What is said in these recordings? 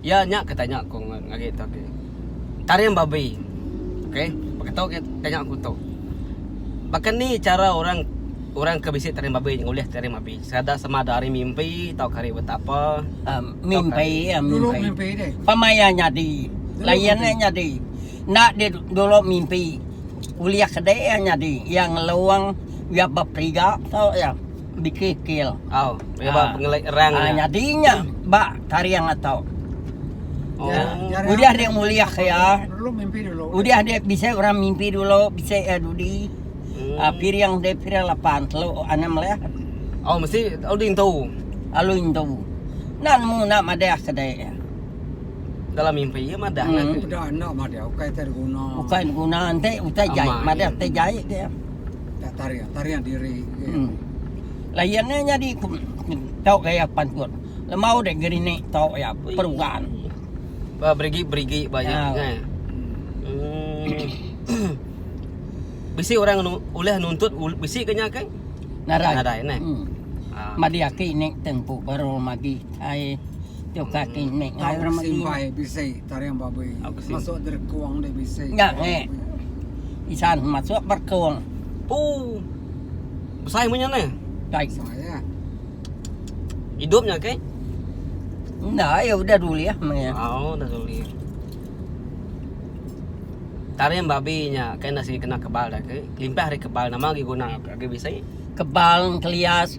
Iya nya ke tanya aku ngagai tu agi. Taring babi. Okey, baka tu ke tanya aku tu. Baka ni chara orang orang ke bisi taring babi ngulih taring babi sekadar sama ada hari mimpi tauka hari buta apa? Um, mimpi ya, mimpi. mimpi deh. Pemaya nyadi. Layan deh nyadi. Nak di dulu mimpi. Ulih kedai ya nyadi. Yang ngeluang ya beperiga tu ya. dikikil. Oh, iya ba pengelai erang. Ah, nyadi nya ba taring atau. Oh. Ya, ya, ya. Udah dia muliah ya. Dulu mimpi dulu. Udah dia bisa orang mimpi dulu, bisa ya dudi. Hmm. Ah, piring dia piring lapan telu enam lah. Oh, mesti alu intu. Alu intu. Nan mu nak madah kedai. Ya. Dalam mimpi ya madah hmm. nak. Udah nak madah, ukai terguna. Ukai guna ente utai jai, madah tejai dia. Tak tarian, tarian diri. Hmm. Layan ni jadi tau gaya pantut. Lemau dek gerinik tau ya peruan. Ba berigi-berigi banyak ya. kan. Hmm. bisi orang nu, ulih nuntut ul, bisi ke nya kan? Narai. Narai nah. Hmm. Ah. Madi aki ni tempu baru magi ai Tukar ti mek ngai orang meri. Simpai bisi taring babui. Masuk derkung deh bisi. Nya nge. Isan masuk berkung. Pu. Besai munyi ne. Dai. Saya. Hidupnya ke? Nah, ya udah dulu ya. Oh, udah dulu. Taring babi nya kan nasi kena kebal dah ke. Limpah hari kebal nama lagi guna lagi bisi. Kebal kelias.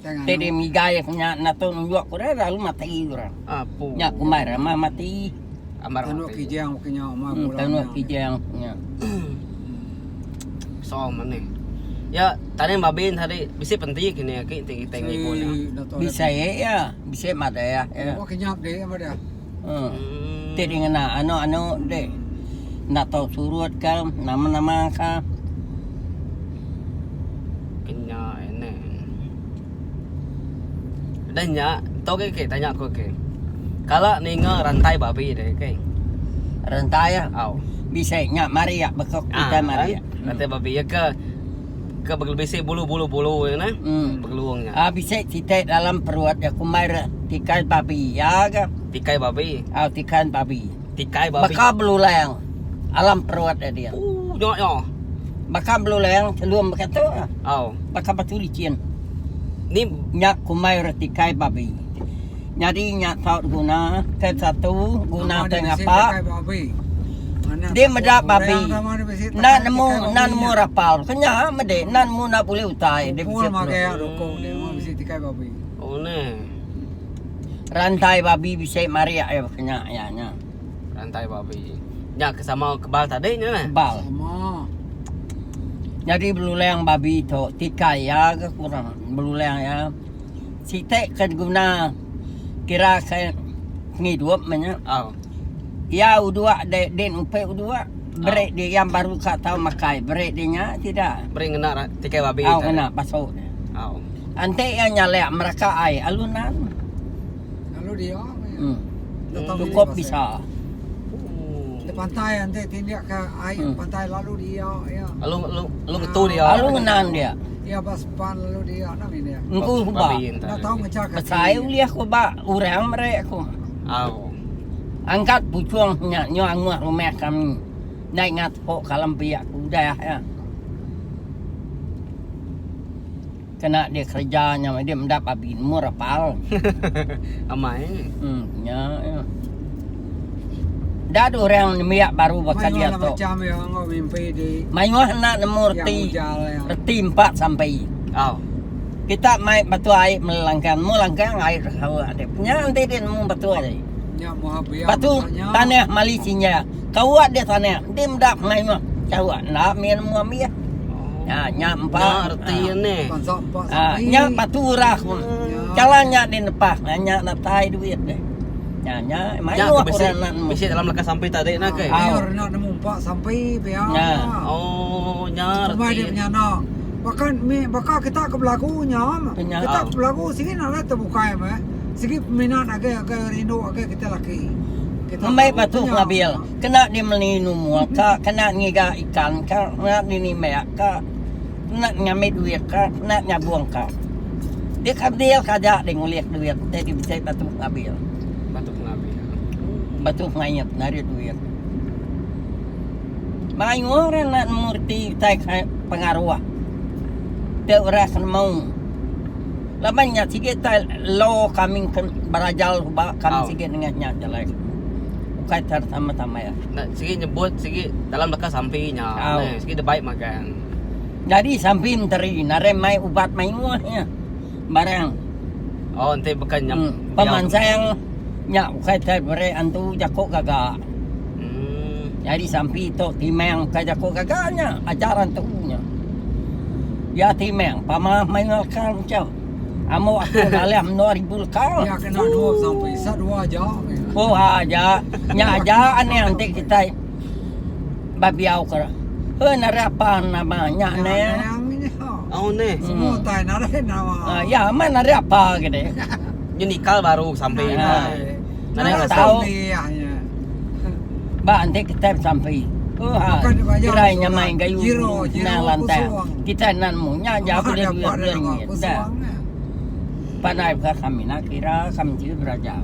Te deh migai nya nato nunjuk ku re lalu mati ura. Nya kumbai rama mati. Ambar mati. Tanu kijang ke nya umai bulan. Tanu kijang ke nya. Song mane. Ya tane babin hari bisi penti kini aki ti kita ngibu nya. Bisi ya bisi madai ya. Kenyap deh madai. Hmm. Ti dingena anu-anu ti. Ndak tahu surut ke, nama-nama ke. Kenya ini. Dan nya, tu ke ke tanya aku ke. Kala ninga rantai babi deh ke. Rantai ya. Au. Bisa nya mari ya bekok kita ah, mari. Kan? Ya. Rantai babi ya ke. ke bisi bulu-bulu bulu nya nah hmm. begelung nya. Ah bisi titik dalam perut dia kumai re tikai babi ya ke. Tikai babi. Ah oh, tikai babi. Tikai babi. Baka belulang alam perut dia. dia. Uh, nyo nyo. Baka belulang celum baka tu. Oh. Baka batu licin. Ni nyak kumai re tikai babi. Nyadi nya saut guna ke satu guna ke ngapa. Di meda babi enda nemu enda nemu rapal ke nya mede enda nemu enda bulih utai di bisi peluru. Rantai babi bisi marik ai ke nya iya nya. Rantai babi. Nya ke sama kebal tadi nya neh. Kebal. Nyadi belulang babi tu tikai iya ke kurang belulang iya. Siti ke diguna kira ke pengidup meh nya. Au. Iya udua de din upe udua beri di yang baru ka tau makai beri di nya sida. Beri ngena ra- tikai babi. Au tadi. ngena pasu dia. Au. Enti iya nyalek meraka ai alu nan. Alu dia meh iya. Hmm. Nda tau diri Cukup pasal. bisa. Oh. Nda pantai enti tindik ke ai Hmm. pantai lalu dia iya. Alu alu alu ngetu dia. Alu ngenan dia. Iya ba. Pan lalu dia nak main dia. Engku aku ba. Nak tahu macam kaki. Besai ulih aku ba orang merek aku. Au. Angkat pucung nya nyu anguh rumah kami. Nai ngat po kalam pia aku udah ya. Kena dia kerja nya dia meda babi nemu rapal. Amai. Hmm nya ya. Enda ada orang nembiak baru baka dia tu. Mayuh enda nemu reti. Reti empat sampai. Oh. Kita mai batu ai mela langkang. Nemu langkang ai hawa ade. Nya enti dia nemu batu ai. Batu tanah mali sinja. Kawa dia tanah. Enti meda mayuh kawa enda mih nemu ambi. Ha nya empat. Nya reti ni. Ha nya batu urah. Kala nya di nepah. Nya datai duit deh. Nya nya mayuh orang bisi, nak nemu. Bisi dalam lekas sampai tadi nak ke? Ah, oh. nak nemu pak sampai pia. Nya. Oh, nya reti. Cuma dia punya nak. Bahkan mi baka kita ke belagu nya. Penya. Kita ke belagu sini nak lah terbuka ya mah. Segi peminat agak agak rindu agak kita laki. Kita Ambil batu kelabil. Kena di melinu muka, kena ngiga ikan ka, kena di nimbak ka. enda ngambi duit ka enda nyabung ka dik abil ka aja dik ngulih duit enda dik bisi batu pengabil batu pengabil batu pengait enda rik duit mayuh orang enda nemu reti utai ka pengaruh dak orang ke nemu laban nya sigi utai law kami ke berajau ba kami sigi nengah nya ja alai ukai tan sama sama nya sigi nyebut sigi dalam leka sampi nya sigi dik bai magang. Jadi sampi menteri narai mai ubat mayuh nya barang. Oh enti baka nya hmm. pemansang nya bukai tai beri antu jaku gaga. Hmm. Jadi sampi tu timang bukai jaku gaga nya ajar antu nya. Ya timang pamah mayuh kang macam. Amu aku dalam 2000 kang. Ya kena dua sampi. Sa dua aja. Oh aja. Nya aja anang ti kita. babiau ke heh narai apan nama nya neh au neh semua tai narai nama ya amat narai apa gede nyu nikal baru sampe nya narai apa tau ba enti kita besampi oha kirai nya mai gayu nang lantang kita nan mu nya ja beli duit beli ringgit da pandai ka kami na kira kami ti beraja.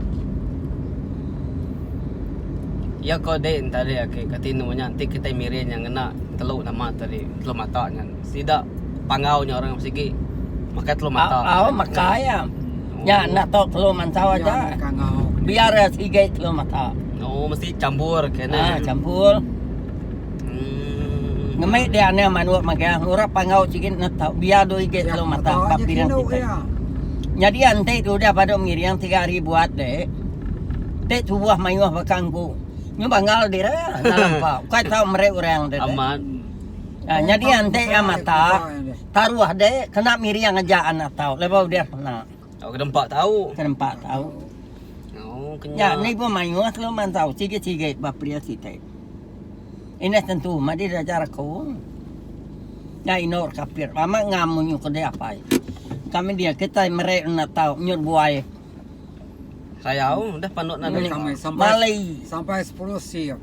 Iya ko dei entarik ake ke tinu nya enti kitai miri nya ngena telu nama tadi telu mata nya sida panggau nya orang sigi makai telu mata. Au makai iya. Nya enda tu telu mantau aja. Biar iya sigi telu mata. Oh mesti chambur kena. Ah chambur. Ngemik dia ane manuk magang ngurap pangau sikit na tau biar do ige ya, kalau mata bab dia kita. Ya. Jadi ante tu dia pada mengiring tiga hari buat dek. Dek tu buah mayuh bakang ku. Nyu bangal dia ya, dalam pak. Kau tahu mereka orang dek. Amat. Ya, jadi ante ya mata taruh dek kena miring aja anak tau. Lepas dia kena. Tau ke dempa tau. Ke dempa tau. Oh, kenya. Ya, ni pun mayuh selalu mantau. Sikit-sikit bah pedia sitai. Ini tentu mah di raja rako. Ya, inor kapir. Lama ngam munyu ke dia apai. Kami dia, kita merek nak tau. Nyur buai. Sayau, dah panduk nak. Malai. Sampai 10 siang.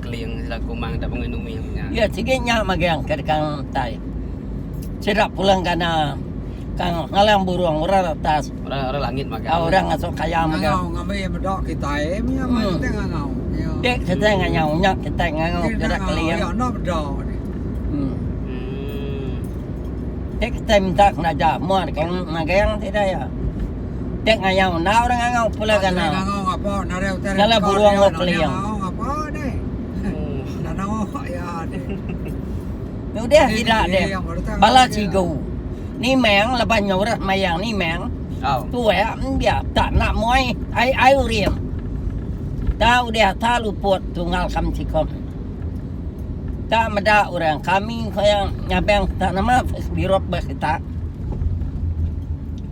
Keling sila kumang tak pengui nui aku nya. Ya sigi nya magang ke dekang tai. Sida pulang kana kang ngalang burung orang atas. Orang orang langit magang. Oh, orang ngasuh kaya magang. Ngau ngambi bedok kitai punya hmm. kita ngau. Dek kita ngau nya kita ngau kita keling. Ya no bedok. Hmm. hmm. Dek kita minta kena ja muar kang magang tidak ya. Tek ngayau enda orang ngangau pula ga na. Kala burung wak keliang. Ni udah sida deh. Bala cigu. Ni meng leban nyurat mayang ni meng. Tuak dia tak nak moi ai ai urim. Tak udah tak luput tunggal kam cikon. Tak meda orang kami koyang ngabang tak nama birok bas kita.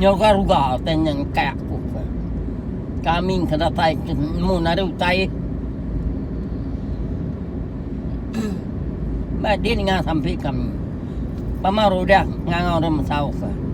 Nyau ga ruga utai nya engkai aku ke. Kami engka datai ke mun ari utai. Ba din ngah sampi kami. Pama rudah ngangau dah mesau ke.